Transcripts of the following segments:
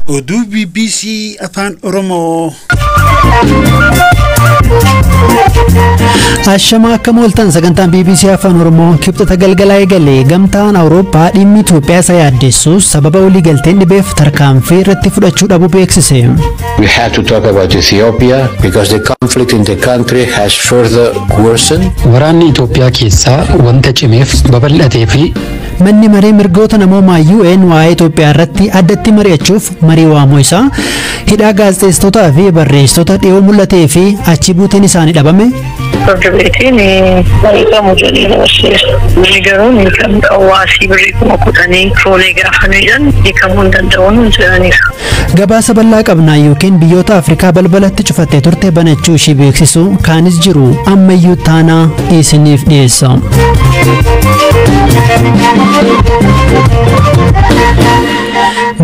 Oduu BBC Afaan Oromoo. Ashama akka mooltan sagantaan BBC Afaan Oromoo kibxata galgalaa eegalee gamtaan Awurooppaa dhimmi Itoophiyaa isa yaaddeessus sababa waliigalteen dhibeef tarkaanfii irratti fudhachuu dhabuu beeksise. We had to talk about Ethiopia because the conflict in the country has further worsened. Waraanni Itoophiyaa keessaa wanta cimeef babal'atee fi Manni maree mirgoota namoomaa UN waa'ee Itoophiyaa irratti addatti mari'achuuf marii waamuu isaa hidhaa gaazexeessitootaa fi barreessitoota dhiyoo mul'atee fi achi buuteen isaanii dhabame Farda beetiin barreeffamu jedhee dabarseera. Inni garuu ni kan hawaasii birrii kuma kudhanii fuunee gaafanii jedhan hiikamuu hin danda'uun hin jedhaniif. Gabaasa bal'aa qabna yookiin biyyoota Afrikaa balbalatti cufattee turte banachuu ishii beeksisu kaanis jiru ammayyuu taanaa isiniif dhiyeessa.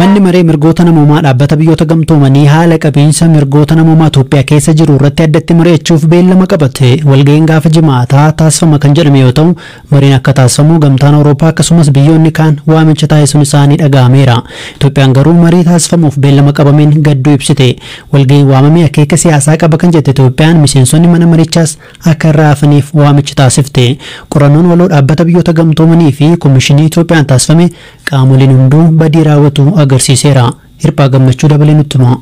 Manni maree mirgoota namoomaa dhaabbata biyyoota gamtoomanii haala qabiinsa mirgoota namoomaa Itoophiyaa keessa jiru irratti addatti mari'achuuf beellama qabate. Walga'iin gaafa Jimaataa taasifama kan jedhame yoo ta'u, mariin akka taasifamu Gamtaan Awurooppaa akkasumas biyyoonni kaan waamicha taasisuun isaanii dhaga'ameera. Itoophiyaan garuu marii taasifamuuf beellama qabameen gadduu ibsite. Walga'iin waamame akeeka siyaasaa qaba kan jette Itoophiyaan miseensonni mana marichaas akka irraa hafaniif waamicha taasifte. Qorannoon waloo dhaabbata biyyoota gamtoomanii fi Komishinii Itoophiyaan taasifame Qaamoleen hunduu badii raawwatu agarsiiseera. Hirphaa Gammachuu dabalee nutti hima.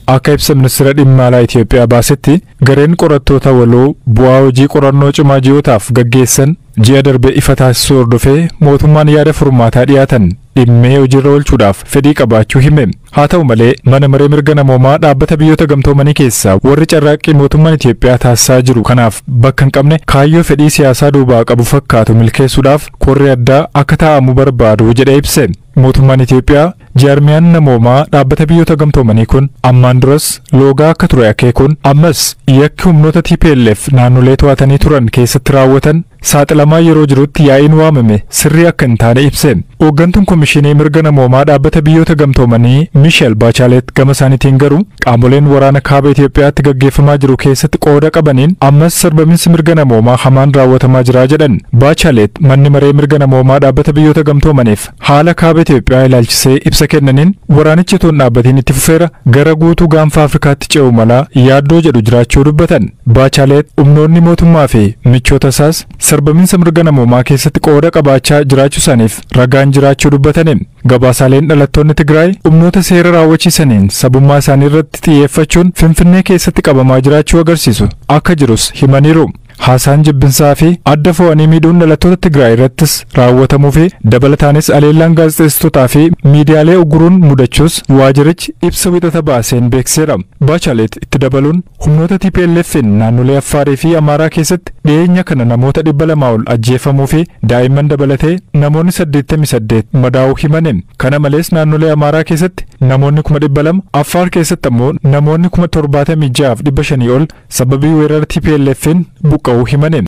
Akka ibsa Ministeera Dhimma Alaa Itiyoophiyaa baasetti, gareen qorattoota waloo bu'aa hojii qorannoo cimaa ji'ootaaf gaggeessan ji'a darbe ifa taasisuu hordofee mootummaan yaada furmaataa dhiyaatan dhimmee hojiirra oolchuudhaaf fedhii qabaachuu hime. Haa ta'u malee, Mana Maree Mirga Namoomaa Dhaabbata Biyyoota Gamtoomanii keessaa warri carraaqqii mootummaan Itiyoophiyaa taasisaa jiru kanaaf bakka hin qabne kaayyoo fedhii siyaasaa duubaa qabu fakkaatu milkeessuudhaaf korri addaa akka taa'amu barbaadu jedhee ibse. Mootummaan Itiyoophiyaa jaarmiyaan namoomaa Dhaabbata Biyyoota Gamtoomanii kun ammaan duras loogaa akka ture akeekuun ammas yakki humnoota TPLF naannolee to'atanii turan keessatti raawwatan saaxilamaa yeroo jirutti yaa'iin waamame sirrii akka hin taane ibse. Ooggantuun Komishinii Mirga Namoomaa Dhaabbata Biyyoota Gamtoomanii Misheel Baachaaleet gama isaaniitiin garuu qaamoleen waraana kaaba Itoophiyaatti gaggeeffamaa jiru keessatti qooda qabaniin ammas sarbaminsi mirga namoomaa hamaan raawwatamaa jira jedhan. Baachaaleet manni maree mirga namoomaa Dhaabbata Biyyoota Gamtoomaniif Haala Kaaba Itoophiyaa ilaalchisee ibsa kennaniin, waraanichi utuu hin dhaabbatiin itti fufeera, gara guutuu Gaanfa Afrikaatti ce'uu mala yaaddoo jedhu jiraachuu dubbatan. Baachaaleet humnoonni mootummaa fi michoota isaas sarbaminsa mirga namoomaa keessatti qooda qabaachaa jiraachuu isaaniif ragaan jiraachuu dubbatani. Gabaasaaleen dhalattoonni Tigraay humnoota seera raawwachiisaniin sabummaa isaanii irratti xiyyeeffachuun Finfinnee keessatti qabamaa jiraachuu agarsiisu akka jirus himaniiru. Haasaan jibbinsaa fi adda fo'anii miidhuun dhalattoota Tigraay irrattis raawwatamuu fi dabalataanis aleellaan gaazexeessitootaa fi miidiyaalee ugguruun mudachuus waajirichi ibsa Wixata baaseen beeksiseera. Bachalet itti dabaluun humnoota TPLF'n naannolee Affaarii fi Amaaraa keessatti dhiyeenya kana namoota 200 ol ajjeefamuu fi daa'imman dabalatee namoonni 88 madaa'uu himani. Kana malees naannolee Amaaraa keessatti namoonni 200,000, Affaar keessatti ammoo namoonni 76,500 ol sababii weerara TPLF'n buqqa'uu himane.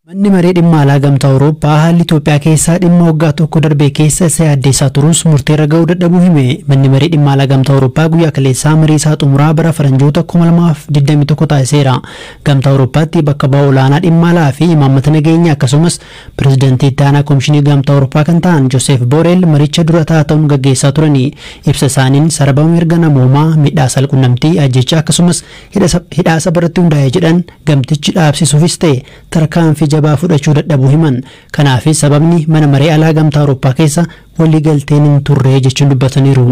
Manni maree dhimma alaa gamtaa Awurooppaa haalli Itoophiyaa keessaa dhimma waggaa tokko darbee keessa isa yaaddeessaa turus murteerra ga'uu dadhabuu hime. Manni maree dhimma alaa gamtaa Awurooppaa guyyaa kaleessaa marii isaa xumuraa bara faranjoota 2021 taasiseera. Gamtaa Awurooppaatti bakka bu'aa olaanaa dhimma alaa fi imaammata nageenya akkasumas Pirezidantii Itti Aanaa Komishinii Gamtaa Awurooppaa kan ta'an Joseef Booreel maricha dura ta'aa ta'uun gaggeessaa turani. Ibsa isaaniin sarabama mirga namoomaa, miidhaa saalqunnamtii, ajjeechaa akkasumas hidhaa saba irratti hundaa'e jedhan gamtichi dhaabsisuufis ta'e tarkaanfii jabaa fudhachuu dadhabuu himan. Kanaafis sababni Mana Maree Alaa Gamtaa Awurooppaa keessa walii galteen hin turre jechuun dubbataniiru.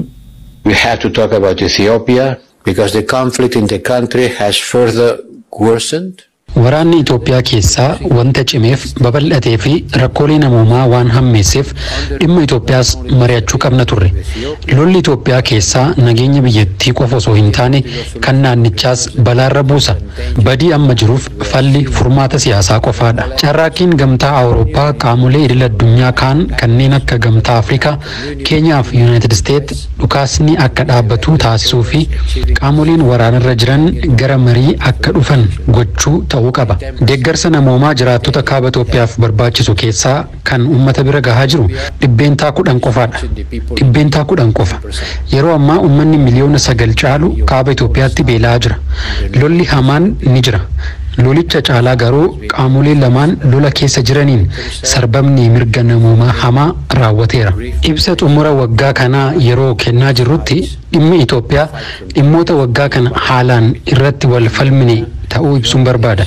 We have to talk about Ethiopia because the conflict in the country has further worsened. Waraanni Itoophiyaa keessaa wanta cimeef, babal'atee fi rakkoolee namoomaa waan hammeesseef dhimma Itoophiyaas mari'achuu qabna turre. Lolli Itoophiyaa keessaa nageenya biyyattii qofa osoo hin taane kan naannichaas balaarra buusa. Badii amma jiruuf falli furmaata siyaasaa qofaadha. Carraaqqiin Gamtaa Awurooppaa qaamolee idil-addunyaa kaan kanneen akka Gamtaa Afrikaa, Keenyaaf Yunaayitid Isteet dhukaasni akka dhaabbatu taasisuu fi qaamoleen waraanarra jiran gara marii akka dhufan gochuu ta'uu qaba. Deeggarsa namoomaa jiraattota Kaaba Itoophiyaaf barbaachisu keessaa kan ummata bira gahaa jiru dhibbeentaa kudhan qofaadha. Dhibbeentaa kudhan qofa. Yeroo ammaa ummanni miliyoona sagal caalu Kaaba Itoophiyaatti beela'aa jira. Lolli hamaan ni jira. Lolicha caalaa garuu Qaamolee lamaan lola keessa jiraniin sarbamni mirga namoomaa hamaa raawwateera. Ibsa xumura waggaa kanaa yeroo kennaa jirrutti dhimmi Itoophiyaa dhimmoota waggaa kana haalaan irratti wal falmine ta'uu ibsuun barbaada.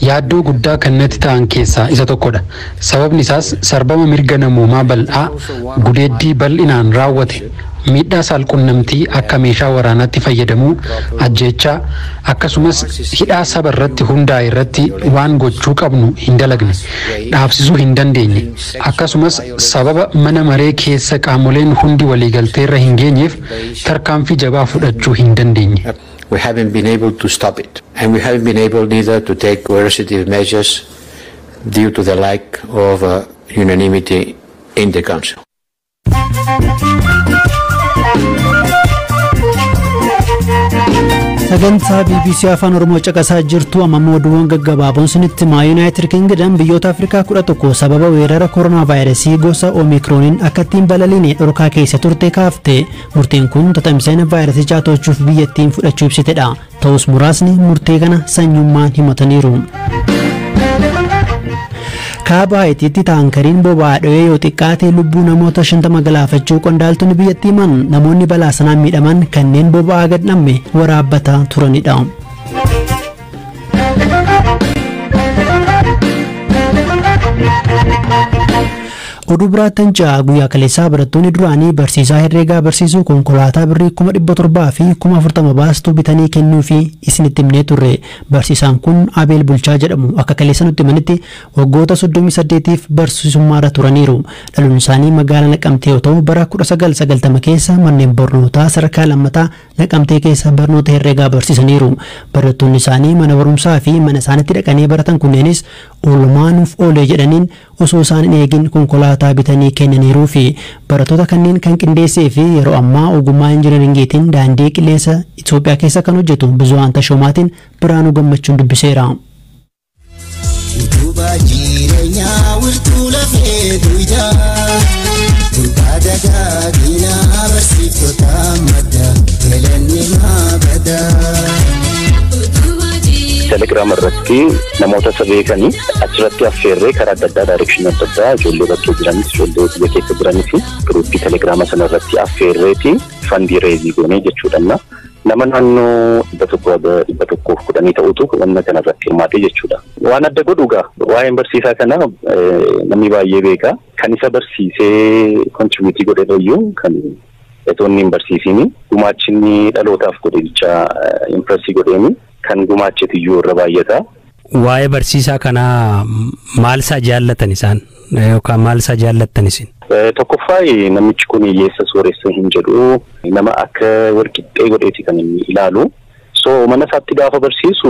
Yaaddoo guddaa kan natti ta'an keessaa isa tokkodha. Sababni isaas sarbama mirga namoomaa bal'aa, gudeeddii bal'inaan raawwate, miidhaa saalqunnamtii akka meeshaa waraanaatti fayyadamuu, ajjeechaa, akkasumas hidhaa saba irratti hundaa'e irratti waan gochuu qabnu hin dalagne, dhaabsisuu hin dandeenye, akkasumas sababa mana maree keessa qaamoleen hundi waliigaltee irra hin geenyeef tarkaanfii jabaa fudhachuu hin dandeenye. We haven't been able to stop it and we haven't been able neither to take coercitive measures due to the lack of unanimity in the Council. sagantaa bbc afaan oromoo caqasaa jirtu amma immoo oduuwwan gaggabaaboon sinitti himaa yuunaayitid kingidam biyyoota afrikaa 11 sababa weerara koronaa vaayirasii gosa oomikrooniin akka ittiin balaliine dhorkaa keessa turte kaafte murteen kun tatamsa'ina vaayirasichaa to'achuuf biyyattiin fudhachuu ibsitedha Ta'us muraasni murtee kana sanyummaan himataniiru. Kaaba Haayitiitti taankariin boba'aa dho'ee yoo xiqqaate lubbuu namoota 50 galaafachuu qondaaltonni biyyattii himan namoonni balaa sanaan miidhaman kanneen boba'aa gad dhamme waraabbataa turanidha. Oduu biraattan ca guyyaa kaleessaa barattoonni duraanii barsiisaa herreegaa barsiisu konkolaataa birrii kuma 700 fi kuma 40 baastu bitanii kennuufi isinitti himnee turre. Barsiisaan kun Abeel Bulchaa jedhamu. Akka kaleessa nutti himanitti waggoota 38f barsiisummaarra turaniiru. Dhalunsaanii magaalaa Naqamtee yoo ta'u bara 1990 keessa manneen barnootaa sadarkaa lammataa Naqamtee keessa barnoota herreegaa barsiisaniiru. Barattoonni isaanii mana barumsaafi mana isaanitti dhaqanii baratan kunneenis oolmaa nuuf oolee jedhaniin osoo isaan hin eegin konkolaataa bitanii kennaniiruufi. Barattoota kanneen kan qindeessee fi yeroo ammaa ogummaa injineringiitiin daandii qilleensa Itoophiyaa keessa kan hojjetu Buzuhaan Tashoomaatiin Birhaanuu Gammachuun dubbiseera. Utubaa jireenyaa wirtuu lafee duwidhaa Gurbaa dagaaginaa barsiiftota madda galanni maa badaa. Telegram irratti fi namoota isa beekanii achirratti affeerree karaa adda addaa daayirekshinii adda addaa ijoollee bakkee jiranis ijoollee biyya keessa jiranis giruuppii telegiraama sana irratti affeerreeti fandii reezii goonee jechuudha. Nama naannoo dhibba tokko dhibba tokkoof kudhanii ta'utu wanna kana irratti hirmaatee jechuudha. Waan adda godhu gaa waa'een barsiisaa kana namni baay'ee beeka. Kan isa barsiisee kontribuutii godhe irrayyuu kan etoonni hin barsiisiin gumaachinni dhalootaaf godhe bichaa impireesii godheeni kan gumaachetu iyyuu irra baay'ata. Waa'ee barsiisaa kanaa maal isaa jaallatan isaan yookaan maal isaa jaallattan isin? Tokkoffaa namichi kun hiyyeessa sooressa hin jedhu nama akka walqixxee godheeti kan inni ilaalu. So mana isaatti gaafa barsiisu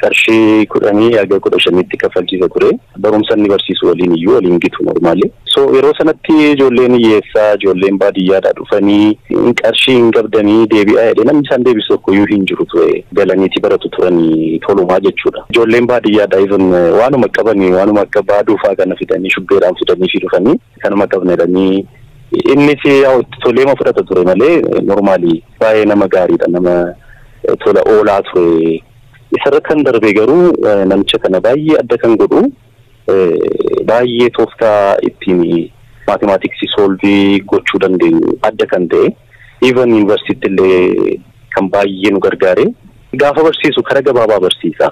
qarshii kudhanii haga kudha shaniitti kaffalchiisa ture. Barumsa inni barsiisu waliin iyyuu wal hin gitu normally. So yeroo sanatti ijoolleen hiyyeessaa, ijoolleen baadiyyaadhaa dhufanii qarshii hin qabdanii deebi'aa jedhee namni isaan deebisu tokko iyyuu hin jiru ture. Galaniiti baratu turani tolumaa jechuu dha. Ijoolleen baadiyyaadhaa even waanuma qabani waanuma akka baaduu fa'aa kana fidanii shubbeedhaan fidaniifii dhufanii kanuma qabna jedhanii innis yaa'u itti toleema fudhata ture malee normally baay'ee nama gaarii dha nama tola oolaa ture. Isarra kan darbee garuu namicha kana baay'ee adda kan godhu baay'ee tooftaa ittiin maatimaatiksii soolvii gochuu dandeenyu adda kan ta'e even yuunivarsiitti illee kan baay'ee nu gargaare gaafa barsiisu kara gabaabaa barsiisa.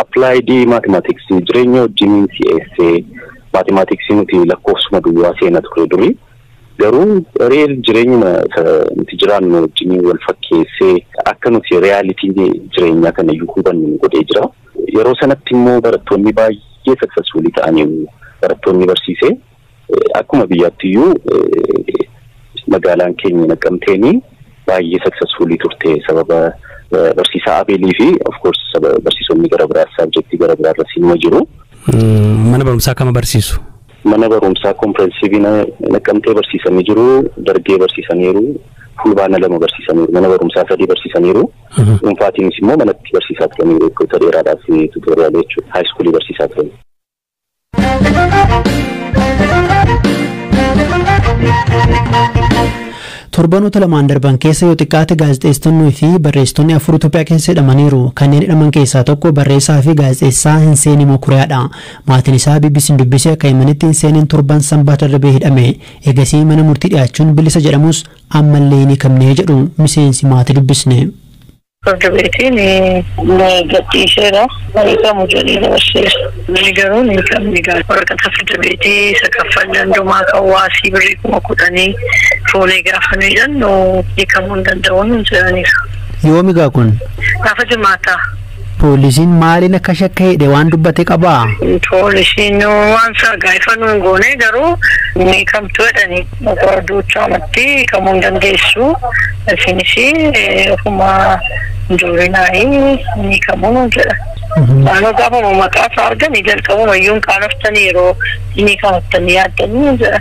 Appilaayidii maatimaatiksii jireenya wajjin si'eessee maatimaatiksii nuti lakkoofsuma duwwaa seena ture durii. Garuu real jireenyuma isa nuti jiraannu wajjiniin wal fakkeessee akka nuti reality jireenyaa kana iyyuu hubannu nu godhee jira. Yeroo sanatti immoo barattoonni baay'ee successfully ta'aniiru barattoonni barsiise. Akkuma biyyaatti iyyuu magaalaan keenya Naqqamteen baay'ee successfully turte sababa barsiisaa Abeelii fi of course saba barsiisonni gara biraas subjectii gara biraa irra siinuma jiru. Mana barumsaa kama barsiisu? Mana Barumsaa Kompirensiivii Naqqamtee barsiisanii jiru, Dargee barsiisaniiru, Fulbaana lama barsiisaniiru, Mana Barumsaa sadii barsiisaniiru, dhuunfaatiinis immoo manatti barsiisaa turaniiru waggoota dheeraadhaaf tuutooriyaalii jechuudha. Haayiskuulii barsiisaa turani. Torbanoota lamaan darban keessa yoo xiqqaate gaazexeessitonnii fi barreessitoonni afur Itoophiyaa keessa hidhamaniiru. Kanneen hidhaman keessaa tokko barreessaa fi gaazexeessaa Hinseenii Mokuriyaadha. Maatiin isaa BBC'n dubbise akka himanitti Seeneen torban Sanbata darbe hidhame. Eegasii mana murtii dhiyaachuun bilisa jedhamus ammallee hin hiikamne jedhu miseensi maatii dubbisne. Firdi beetiin ni gadhiiseera. Hin hiikamu jedhee dabarseera. Inni garuu hin hiikamne egaa. Waraqata firdi beetii isa kaffalli hundumaa kan waasii birrii kuma kudhanii fuunee gaafa nuyi hidhannu hiikamuu hin danda'u nuun jedhaniiru. Yoomi egaa kun? Gaafa Jimaataa. Poolisiin maaliin akka shakke hidhe waan dubbate qabaa? Poolisiin waan isaa gaafa nuun goone garuu ni kamtu jedhani. Duuchaa matti kamuu hin dandeessu. Isinis ofuma joorinaayi ni kamuu nuun jedha. Naannoo gaafuma maqaa isaa argani jalqabuma iyyuu hin qaanoftani yeroo ni kamattani yaaddani jedha.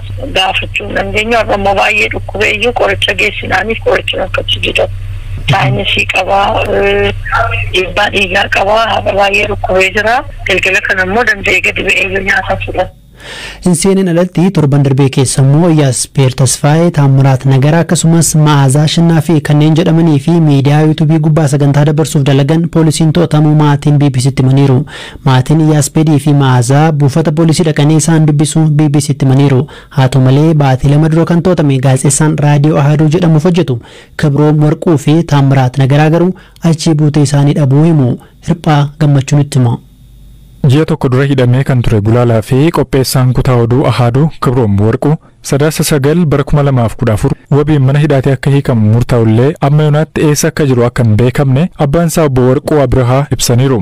gaafachuu hin dandeenyu. Har'a immoo baay'ee dhukkubee iyyuu qoricha geessinaaniif qorichi rakkachuu dida. Saayinisii qaba, dhiibbaa dhiigaa qaba. Har'a baay'ee dhukkubee jira. Galgala kana immoo danda'ee gadi ba'ee iyyuu nyaata fudhata. Hin seeneen alatti torban darbee keessa immoo Yaaspeer Tasfaayee, Taammiraat Nagara akkasumas Ma'aazaa Ashannaafii kanneen jedhamanii fi miidiyaa yuutuubii gubbaa sagantaa dabarsuuf dalagan poolisiin to'atamuu maatiin BBC'tti himaniiru. Maatiin Yaaspeedii fi Ma'aazaa buufata poolisii dhaqanii isaan dubbisuu BBC'tti himaniiru. Haa ta'u malee, baatii lama dura kan to'atame gaazexeessaan Raadiyoo Ahaaduu jedhamuuf hojjetu Kibroom Warquu fi Taammiraat Nagaraa garuu achii buutee isaanii dhabuu himu. Hirphaa Gammachuu nutti hima. Ji'a tokko dura hidhamee kan ture gulaalaa fi qopheessaan kutaa oduu Ahaaduu Kibroom Warquu Sadaasa 9 bara 2014 wabiin mana hidhaatii akka hiikamu murtaa'ullee amma yoonaatti eessa akka jiru akka hin beekamne abbaan isaa obbo Warquu Abirahaa ibsaniiru.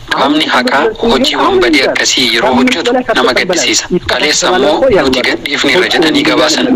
Qaamni haqaa hojii wanbadee akkasii yeroo hojjetu nama gaddisiisa. Kaleessa ammoo nuti gadhiifneerra jedhanii gabaasan.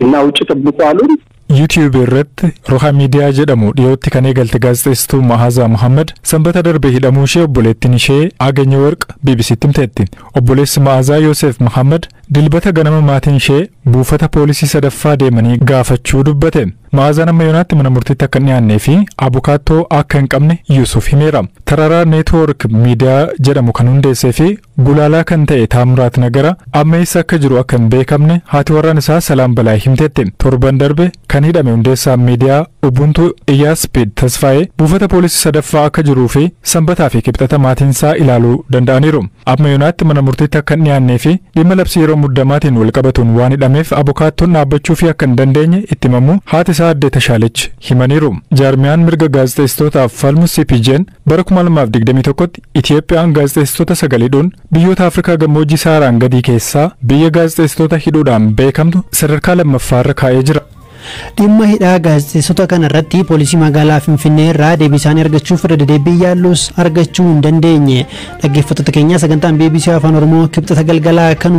እና ውጭ ጠብቁ አሉን። YouTube irratti Roha Media jedhamu dhiyootti kan eegalte gaazexeessituu Mahaazaa Muhammad Sanbata darbe hidhamuu ishee obboleettiin ishee Agenyeworq BBC'tti himteetti. Obboleessi Ma'aazaa Yooseef Muhammad Dilbata ganama maatiin ishee buufata poolisii sadaffaa deemanii gaafachuu dubbate. Ma'aazaan amma yoonaatti mana murtiitti akka hin dhiyaannee fi abukaattoo akka hin qabne Yuusuf himeera. Tararaa Neetwoork Miidiyaa jedhamu kan hundeessee fi gulaalaa kan ta'e Taamiraat Nagara amma eessa akka jiru akka hin beekamne haati warraan isaa Salaam Balaay himteetti. Torban darbe kan hidhame hundeessaan miidiyaa Ubuntu Iyyaaspeed Tasfaayee buufata poolisii sadaffaa akka jiruu fi Sanbataa fi Kibxata maatiinsaa ilaaluu danda'aniiru. Amma yonaatti mana murtiitti akka hin dhiyaannee fi dhimma labsii yeroo muddamaatiin wal qabatuun waan hidhameef abukaattoon dhaabbachuufii akka hin dandeenye itti himamuu haati isaa addee Tashaalech himaniiru. Jaarmiyaan mirga gaazexeessitootaaf falmu CPJn bara 2021tti Itiyoophiyaan gaazexeessitoota sagal hidhuun biyyoota Afrikaa gammoojjii Sahaaraan gadii keessaa biyya gaazexeessitoota hidhuudhaan beekamtu sadarkaa lammaffaarra kaa'ee jira. Dhimma hidhaa gaazexeessota kana irratti poolisii magaalaa Finfinnee irraa deebii isaanii argachuuf irra dedeebiin yaallus argachuu hin dandeenye. Dhaggeeffattoota keenyaa sagantaan BBC Afaan Oromoo kibxata galgalaa kan